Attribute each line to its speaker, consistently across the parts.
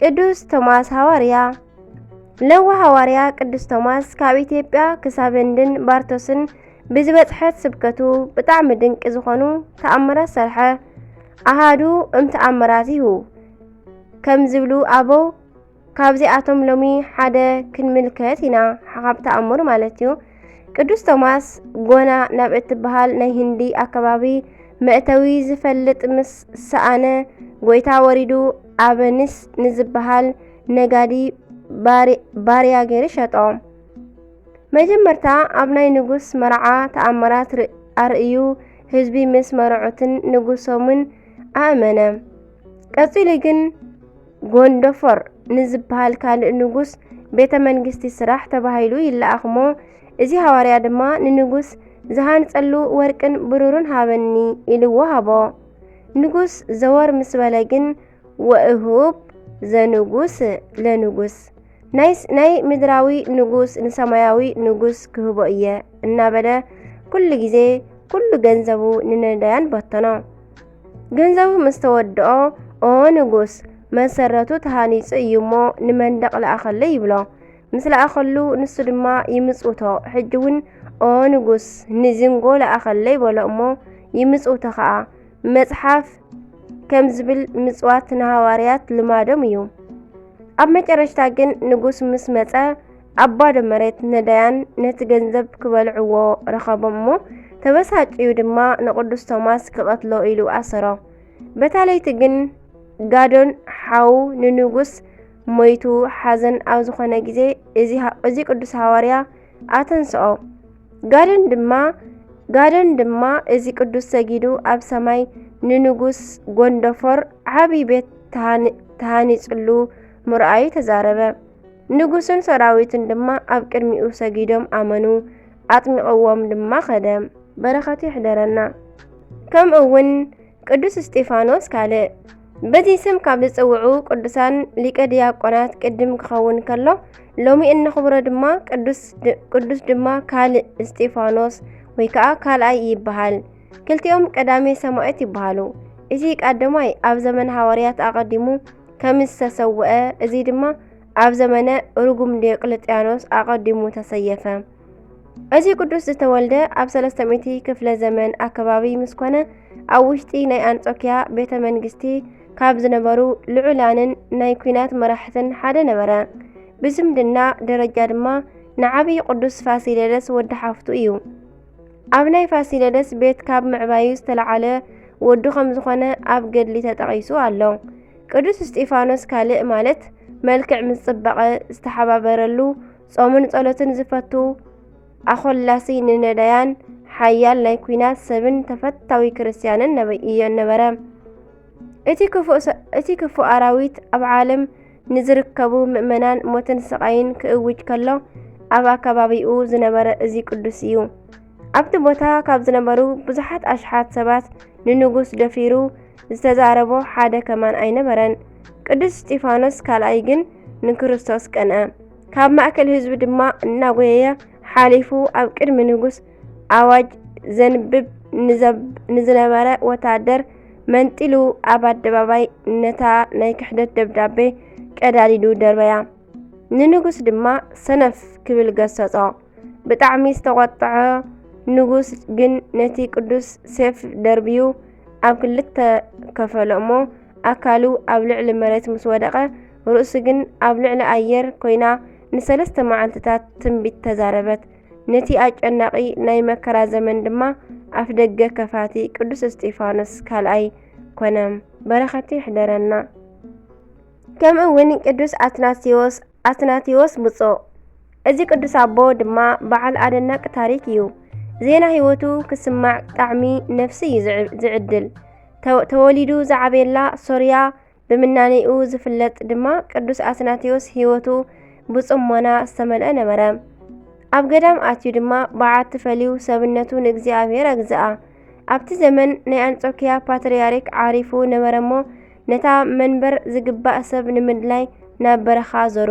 Speaker 1: ቅዱስ ቶማስ ሃዋርያ ለዋ ሃዋርያ ቅዱስ ቶማስ ካብ ኢትዮጵያ ክሳብ ህንድን ባርቶስን ብዝበጽሐት ስብከቱ ብጣዕሚ ድንቂ ዝኾኑ ተኣምራት ሰርሐ። ኣሃዱ እምተኣምራቲሁ ከም ዝብሉ ኣበው ካብዚኣቶም ሎሚ ሓደ ክንምልከት ኢና። ሓኻብ ተኣምር ማለት እዩ። ቅዱስ ቶማስ ጎና ናብ እትበሃል ናይ ህንዲ ኣከባቢ መእተዊ ዝፈልጥ ምስ ሰኣነ ጎይታ ወሪዱ ኣበኒስ ንዝበሃል ነጋዲ ባርያ ገይሩ ሸጦ። መጀመርታ ኣብ ናይ ንጉስ መርዓ ተኣምራት ኣርእዩ ህዝቢ ምስ መርዑትን ንጉሶምን ኣእመነ። ቀጺሉ ግን ጎንደፎር ንዝበሃል ካልእ ንጉስ ቤተ መንግስቲ ስራሕ ተባሂሉ ይለኣኽሞ እዚ ሃዋርያ ድማ ንንጉስ ዝሃንጸሉ ወርቅን ብሩርን ሃበኒ ኢልዎ ሃቦ። ንጉስ ዘወር ምስ በለ ግን ወእሁብ ዘንጉስ ለንጉስ ናይ ምድራዊ ንጉስ ንሰማያዊ ንጉስ ክህቦ እየ እናበለ ኩሉ ግዜ ኩሉ ገንዘቡ ንነዳያን በተኖ። ገንዘቡ ምስ ተወድኦ ኦ ንጉስ መሰረቱ ተሃኒጹ እዩ እሞ ንመንደቕ ለኣኸለይ ይብሎ። ምስ ለኣኸሉ ንሱ ድማ ይምጽውቶ። ሕጂ እውን ኦ ንጉስ ንዝንጎ ለኣኸለይ በሎ እሞ ይምጽውቶ ኸኣ። መጽሓፍ ከም ዝብል ምጽዋት ንሃዋርያት ልማዶም እዩ። ኣብ መጨረሽታ ግን ንጉስ ምስ መጸ ኣብ ባዶ መሬት ነዳያን ነቲ ገንዘብ ክበልዕዎ ረኸቦም እሞ ተበሳጭዩ ድማ ንቕዱስ ቶማስ ክቐትሎ ኢሉ ኣሰሮ። በታ ለይቲ ግን ጋዶን ሓው ንንጉስ ሞይቱ ሓዘን ኣብ ዝኾነ ግዜ እዚ ቅዱስ ሃዋርያ ኣተንስኦ ጋደን ድማ ጋደን ድማ እዚ ቅዱስ ሰጊዱ ኣብ ሰማይ ንንጉስ ጎንደፎር ዓብዪ ቤት ተሃኒፅሉ ምርኣዩ ተዛረበ። ንጉስን ሰራዊትን ድማ ኣብ ቅድሚኡ ሰጊዶም ኣመኑ፣ ኣጥሚቕዎም ድማ ኸደ። በረኸቱ ይሕደረና። ከምኡ እውን ቅዱስ እስጢፋኖስ ካልእ በዚ ስም ካብ ዝጽውዑ ቅዱሳን ሊቀ ዲያቆናት ቅድም ክኸውን ከሎ ሎሚ እነኽብሮ ድማ ቅዱስ ድማ ካልእ እስጢፋኖስ ወይ ከዓ ካልኣይ ይበሃል። ክልቲኦም ቀዳሜ ሰማዕት ይበሃሉ። እዚ ቀዳማይ ኣብ ዘመን ሃዋርያት ኣቐዲሙ ከም ዝተሰውአ እዚ ድማ ኣብ ዘመነ ርጉም ዲዮቅልጥያኖስ ኣቐዲሙ ተሰየፈ። እዚ ቅዱስ ዝተወልደ ኣብ 300 ክፍለ ዘመን ኣከባቢ ምስ ኮነ ኣብ ውሽጢ ናይ ኣንጾኪያ ቤተ መንግስቲ ካብ ዝነበሩ ልዑላንን ናይ ኩናት መራሕትን ሓደ ነበረ። ብዝምድና ደረጃ ድማ ንዓብዪ ቅዱስ ፋሲለደስ ወዲ ሓፍቱ እዩ። ኣብ ናይ ፋሲለደስ ቤት ካብ ምዕባዩ ዝተለዓለ ወዱ ከም ዝኾነ ኣብ ገድሊ ተጠቒሱ ኣሎ። ቅዱስ እስጢፋኖስ ካልእ ማለት መልክዕ ምስ ጽባቐ ዝተሓባበረሉ ጾምን ጸሎትን ዝፈቱ ኣኾላሲ ንነዳያን ሓያል ናይ ኲናት ሰብን ተፈታዊ ክርስትያንን እዮ ነበረ። እቲ ክፉእ ኣራዊት ኣብ ዓለም ንዝርከቡ ምእመናን ሞትን ስቓይን ክእውጅ ከሎ ኣብ ኣከባቢኡ ዝነበረ እዚ ቅዱስ እዩ። ኣብቲ ቦታ ካብ ዝነበሩ ብዙሓት ኣሽሓት ሰባት ንንጉስ ደፊሩ ዝተዛረቦ ሓደ ከማን ኣይነበረን። ቅዱስ እስጢፋኖስ ካልኣይ ግን ንክርስቶስ ቀንአ። ካብ ማእከል ህዝቢ ድማ እናጎየየ ሓሊፉ ኣብ ቅድሚ ንጉስ ኣዋጅ ዘንብብ ንዝነበረ ወታደር መንጢሉ ኣብ ኣደባባይ ነታ ናይ ክሕደት ደብዳቤ ቀዳዲዱ ደርበያ ንንጉስ ድማ ሰነፍ ክብል ገሰጾ ብጣዕሚ ዝተቖጥዐ ንጉስ ግን ነቲ ቅዱስ ሴፍ ደርብዩ ኣብ ክልተ ከፈሎ እሞ ኣካሉ ኣብ ልዕሊ መሬት ምስ ወደቐ ርእሱ ግን ኣብ ልዕሊ ኣየር ኮይና ንሰለስተ መዓልትታት ትንቢት ተዛረበት ነቲ ኣጨናቒ ናይ መከራ ዘመን ድማ ኣፍደገ ከፋቲ ቅዱስ እስጢፋኖስ ካልኣይ ኮነ። በረኸቱ ይሕደረና። ከምኡ እውን ቅዱስ ኣትናቴዎስ ኣትናቴዎስ ብፁዕ እዚ ቅዱስ ኣቦ ድማ በዓል ኣደናቂ ታሪክ እዩ። ዜና ህይወቱ ክስማዕ ጣዕሚ ነፍሲ እዩ ዝዕድል። ተወሊዱ ዝዓበየላ ሶርያ ብምናኔኡ ዝፍለጥ ድማ ቅዱስ ኣትናቴዎስ ሕይወቱ ብጽሞና ዝተመልአ ነበረ። ኣብ ገዳም ኣትዩ ድማ በዓቲ ፈልዩ ሰብነቱ ንእግዚኣብሔር ኣግዝኣ። ኣብቲ ዘመን ናይ ኣንጾኪያ ፓትርያርክ ዓሪፉ ነበረ እሞ ነታ መንበር ዝግባእ ሰብ ንምድላይ ናብ በረኻ ዞሩ።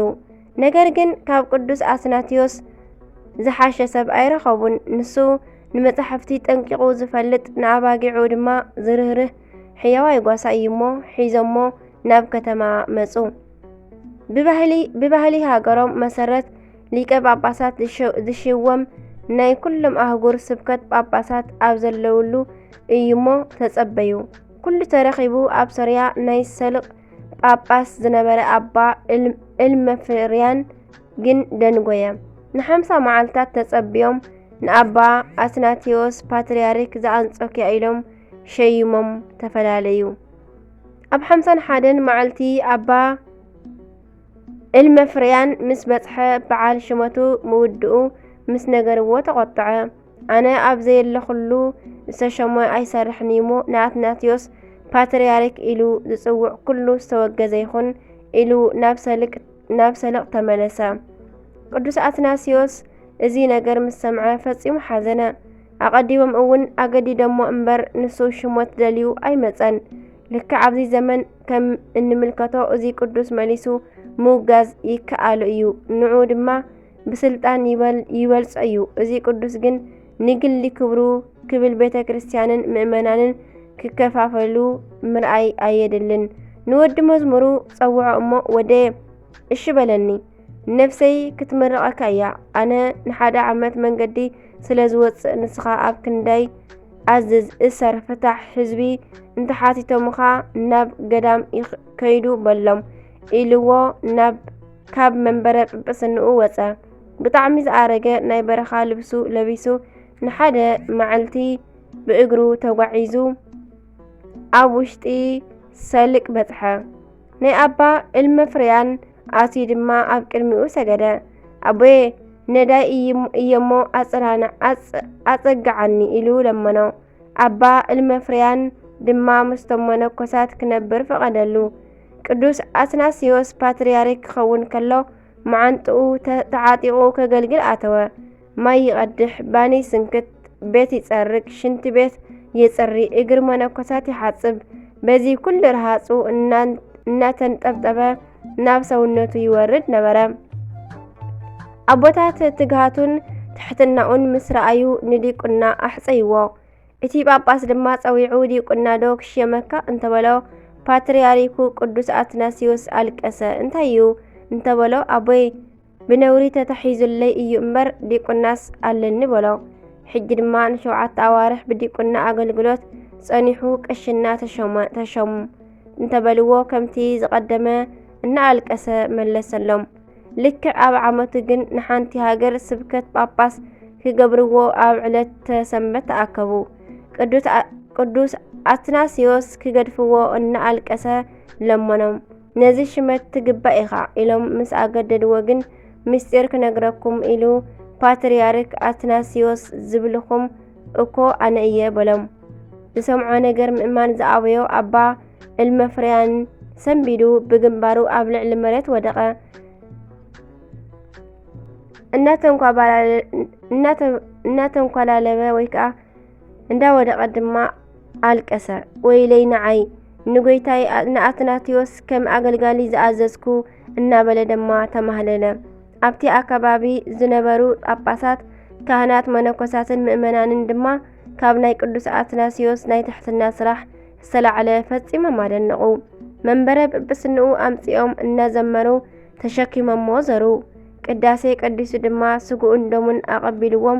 Speaker 1: ነገር ግን ካብ ቅዱስ ኣትናቴዎስ ዝሓሸ ሰብ ኣይረኸቡን። ንሱ ንመጻሕፍቲ ጠንቂቑ ዝፈልጥ ንኣባጊዑ ድማ ዝርህርህ ሕያዋይ ጓሳ እዩሞ ሒዞሞ ናብ ከተማ መጹ። ብባህሊ ሃገሮም መሰረት ሊቀ ጳጳሳት ዝሽወም ናይ ኩሎም ኣህጉር ስብከት ጳጳሳት ኣብ ዘለውሉ እዩሞ ተጸበዩ። ኩሉ ተረኺቡ ኣብ ሶርያ ናይ ሰልቕ ጳጳስ ዝነበረ ኣባ እልመፍርያን ግን ደንጎየ። ንሓምሳ መዓልታት ተጸብዮም ንኣባ ኣትናቴዎስ ፓትርያርክ ዘኣንጾኪያ ኢሎም ሸይሞም ተፈላለዩ። ኣብ ሓምሳን ሓደን መዓልቲ ኣባ እልመፍርያን ምስ በጽሐ በዓል ሽመቱ ምውድኡ ምስ ነገርዎ ተቖጥዐ። ኣነ ኣብ ዘየለኹሉ ዝተሸሞ ኣይሰርሕንዩሞ ንኣትናትዮስ ፓትርያርክ ኢሉ ዝጽውዕ ኩሉ ዝተወገዘ ይኹን ኢሉ ናብ ሰልቕ ተመለሰ። ቅዱስ ኣትናስዮስ እዚ ነገር ምስ ሰምዐ ፈጺሙ ሓዘነ። ኣቐዲሞም እውን ኣገዲዶሞ እምበር ንሱ ሽሞት ደልዩ ኣይመጸን። ልክዕ ኣብዚ ዘመን ከም እንምልከቶ እዚ ቅዱስ መሊሱ ምውጋዝ ይከኣሎ እዩ፣ ንዑ ድማ ብስልጣን ይበልጾ እዩ። እዚ ቅዱስ ግን ንግሊ ክብሩ ክብል ቤተ ክርስቲያንን ምእመናንን ክከፋፈሉ ምርኣይ ኣየድልን። ንወዲ መዝሙሩ ጸውዖ እሞ ወደ እሺ በለኒ። ነፍሰይ ክትምርቐካ እያ። ኣነ ንሓደ ዓመት መንገዲ ስለ ዝወፅእ ንስኻ ኣብ ክንዳይ ኣዝዝ እሰር ፍታሕ ህዝቢ እንተሓቲቶምኻ ናብ ገዳም ከይዱ በሎም ኢልዎ ናብ ካብ መንበረ ጵጵስንኡ ወፀ። ብጣዕሚ ዝኣረገ ናይ በረኻ ልብሱ ለቢሱ ንሓደ መዓልቲ ብእግሩ ተጓዒዙ ኣብ ውሽጢ ሰልቅ በፅሐ። ናይ ኣባ እልመፍርያን ኣትዩ ድማ ኣብ ቅድሚኡ ሰገደ። ኣቦየ ነዳይ እየሞ ኣጽናና ኣጸግዓኒ ኢሉ ለመኖ። ኣባ እልመፍርያን ድማ ምስቶም መነኮሳት ክነብር ፈቐደሉ። ቅዱስ ኣትናስዮስ ፓትርያርክ ክኸውን ከሎ መዓንጥኡ ተዓጢቑ ከገልግል ኣተወ። ማይ ይቐድሕ፣ ባኒ ይስንክት፣ ቤት ይጸርግ፣ ሽንት ቤት ይጽሪ፣ እግር መነኮሳት ይሓጽብ። በዚ ኩሉ ረሃጹ እናተንጠብጠበ ናብ ሰውነቱ ይወርድ ነበረ። ኣቦታት ትግሃቱን ትሕትናኡን ምስ ረኣዩ ንዲቁና ኣሕፀይዎ። እቲ ጳጳስ ድማ ጸዊዑ ዲቁና ዶ ክሽየመካ እንተበሎ ፓትርያርኩ ቅዱስ ኣትናስዮስ ኣልቀሰ። እንታይ እዩ እንተበሎ ኣቦይ ብነውሪ ተታሒዙለይ እዩ እምበር ዲቁናስ ኣለኒ በሎ። ሕጂ ድማ ንሸውዓተ ኣዋርሕ ብዲቁና ኣገልግሎት ጸኒሑ ቅሽና ተሸሙ እንተበልዎ ከምቲ ዝቐደመ እናኣልቀሰ መለሰሎም። ልክዕ ኣብ ዓመቱ ግን ንሓንቲ ሃገር ስብከት ጳጳስ ክገብርዎ ኣብ ዕለት ተሰንበት ተኣከቡ። ቅዱስ ኣትናስዮስ ክገድፍዎ እናኣልቀሰ ለመኖም። ነዚ ሽመት ትግባእ ኢኻ ኢሎም ምስ ኣገደድዎ ግን ምስጢር ክነግረኩም ኢሉ ፓትርያርክ ኣትናስዮስ ዝብልኹም እኮ ኣነ እየ በሎም። ዝሰምዖ ነገር ምእማን ዝኣበዮ ኣባ እልመፍርያን ሰንቢዱ ብግንባሩ ኣብ ልዕሊ መሬት ወደቐ። እናተንኳላለበ ወይ ከዓ እንዳወደቐ ድማ ኣልቀሰ። ወይለይ ንዓይ ንጎይታይ ንኣትናቴዎስ ከም ኣገልጋሊ ዝኣዘዝኩ እናበለ ድማ ተማህለለ። ኣብቲ ኣከባቢ ዝነበሩ ጳጳሳት፣ ካህናት፣ መነኮሳትን ምእመናንን ድማ ካብ ናይ ቅዱስ ኣትናሲዮስ ናይ ትሕትና ስራሕ ዝተላዕለ ፈጺሞም ኣደነቑ። መንበረ ጵጵስንኡ ኣምጺኦም እናዘመሩ ተሸኪሞሞ ዘሩ። ቅዳሴ ቀዲሱ ድማ ስጉኡን ደሙን ኣቐቢልዎም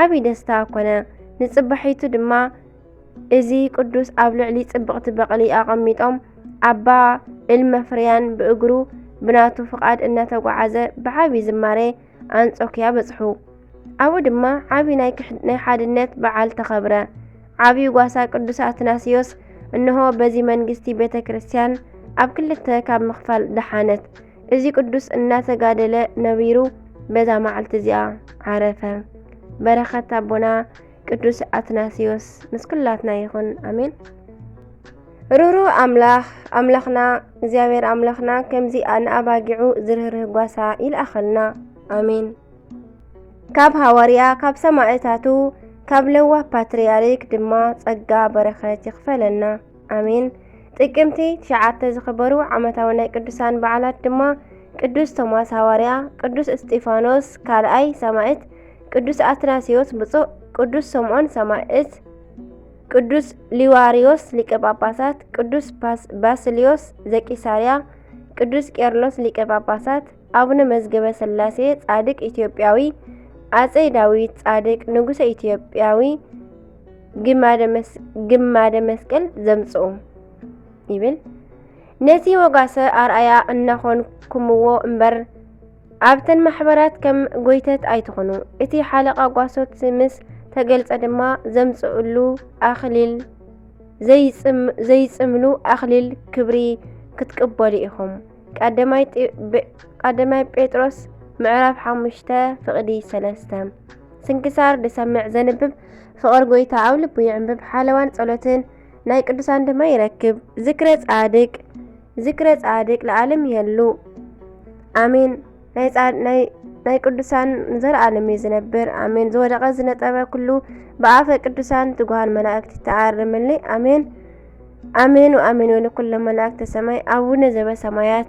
Speaker 1: ዓቢ ደስታ ኮነ። ንጽባሒቱ ድማ እዚ ቅዱስ ኣብ ልዕሊ ጽብቕቲ በቕሊ ኣቐሚጦም ኣባ እልመፍርያን ብእግሩ ብናቱ ፍቓድ እናተጓዓዘ ብዓቢ ዝማሬ ኣንጾክያ በጽሑ። ኣብኡ ድማ ዓቢ ናይ ሓድነት በዓል ተኸብረ። ዓቢ ጓሳ ቅዱስ ኣትናስዮስ እንሆ በዚ መንግስቲ ቤተ ክርስቲያን ኣብ ክልተ ካብ ምኽፋል ደሓነት። እዚ ቅዱስ እናተጋደለ ነቢሩ በዛ መዓልቲ እዚኣ ዓረፈ። በረኸት ኣቦና ቅዱስ ኣትናስዮስ ምስ ኩላትና ይኹን ኣሜን። ሩሩ ኣምላኽ ኣምላኽና እግዚኣብሔር ኣምላኽና ከምዚ ንኣባጊዑ ዝርህርህ ጓሳ ይልኣኸልና ኣሜን። ካብ ሃዋርያ ካብ ሰማዕታቱ ካብ ለዋህ ፓትርያርክ ድማ ጸጋ በረኸት ይኽፈለና። ኣሜን። ጥቅምቲ ትሽዓተ ዝኽበሩ ዓመታዊ ናይ ቅዱሳን በዓላት ድማ ቅዱስ ቶማስ ሃዋርያ፣ ቅዱስ እስጢፋኖስ ካልኣይ ሰማዕት፣ ቅዱስ ኣትናሲዮስ ብፁዕ፣ ቅዱስ ስምዖን ሰማዕት፣ ቅዱስ ሊዋርዮስ ሊቀ ጳጳሳት፣ ቅዱስ ባስልዮስ ዘቂሳርያ፣ ቅዱስ ቄርሎስ ሊቀ ጳጳሳት፣ ኣቡነ መዝገበ ሥላሴ ጻድቅ ኢትዮጵያዊ፣ ኣጼ ዳዊት ጻድቅ ንጉሠ ኢትዮጵያዊ ግማደ መስቀል ዘምጽኡ ይብል ነቲ ወጋሰ ኣርኣያ እናኾንኩምዎ እምበር ኣብተን ማሕበራት ከም ጎይተት ኣይትኾኑ። እቲ ሓለቓ ጓሶት ምስ ተገልጸ ድማ ዘምጽእሉ ኣኽሊል ዘይጽምሉ ኣኽሊል ክብሪ ክትቅበሉ ኢኹም። ቀዳማይ ጴጥሮስ ምዕራፍ ሓሙሽተ ፍቕዲ ሰለስተ ስንክሳር ዝሰምዕ ዘንብብ ፍቕሪ ጎይታ ኣብ ልቡ ይዕምብብ ሓለዋን ጸሎትን ናይ ቅዱሳን ድማ ይረክብ ዝክረ ጻድቅ ዝክረ ጻድቅ ለዓለም ይህሉ ኣሜን ናይ ጻድ ናይ ናይ ቅዱሳን ንዘለዓለም እዩ ዝነብር ኣሜን ዝወደቐ ዝነጠበ ኩሉ ብኣፈ ቅዱሳን ትጉሃን መላእክት ይተኣርምልይ ኣሜን ኣሜን ወኣሜን ወለኩሎም መላእክተ ሰማይ ኣቡነ ዘበሰማያት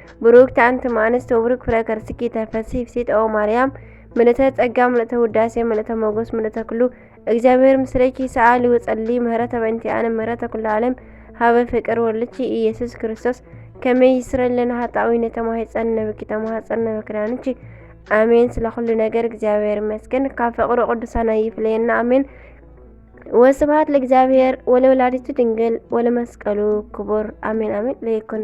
Speaker 1: ብሩክቲ ኣንቲ እማንስት ወብሩክ ፍረ ከርስኪ ተፈሲ ፍሲት ኦ ማርያም ምልእተ ጸጋ ምልእተ ውዳሴ ምልእተ ሞጎስ ምልእተ ክሉ እግዚኣብሔር ምስሌኪ ሰኣሊ ወጸሊ ምህረተ በእንቲኣነ ምህረተ ኩሉ ዓለም ሃበ ፍቅር ወልቺ ኢየሱስ ክርስቶስ ከመይ ይስረለና ሃጣዊነ ተማሂፀን ነብኪ ተማሃፀን ነበክዳንቺ ኣሜን። ስለ ኩሉ ነገር እግዚኣብሔር ይመስገን። ካብ ፍቅሩ ቅዱሳን ይፍለየና። ኣሜን። ወስብሐት ለእግዚኣብሔር ወለወላዲቱ ድንግል ወለመስቀሉ ክቡር። ኣሜን ኣሜን ለይኩን